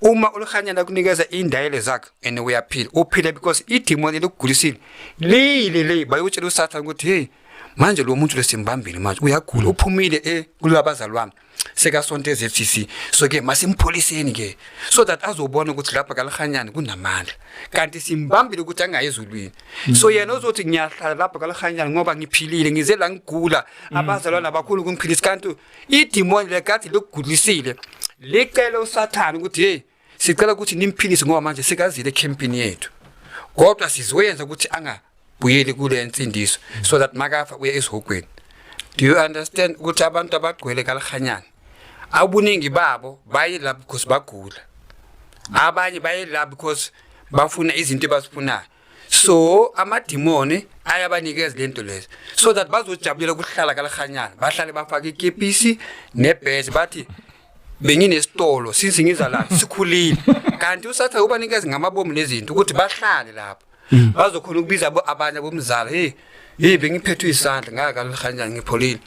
uma ulikhanyana akunikeza indayelo zakhe and uyaphila uphile because idimoni elikugulisile liyile le bayokutshela usathane ukuthi hey manje lo muntu lesimbambile manje uyagula uphumile e eh, kulabazali wami sekasonto eZFCC so ke masimpholiseni ke so that azobona ukuthi lapha kalihanyana kunamandla kanti simbambile ukuthi angayi ezulwini so yena uzothi ngiyahlala lapha kalihanyana ngoba ngiphilile ngize la ngigula mm. abazalwana abakhulu kungiphilisa kanti idimoni lekade likugulisile licele usathane ukuthi hey sicela ukuthi nimphilise ngoba manje sekazile ekhempini yethu kodwa sizoyenza ukuthi angabuyeli kule nsindiso so that makafa uye esihogweni do you understand ukuthi abantu abagcwele kalihanyana abuningi babo baye la because bagula abanye baye la because bafuna izinto ebazifunayo so amadimoni ayabanikeza lento lezi so that bazojabulela ukuhlala kalahanyana bahlale bafake ikepisi nebhezi bathi benginesitolo since ngiza la sikhulile kanti usatha ubanikeza ngamabomu nezinto ukuthi bahlale lapho mm. bazokhona ukubiza abanye bomzala hey hey bengiphethwe isandla ngaka kalahanyana ngipholile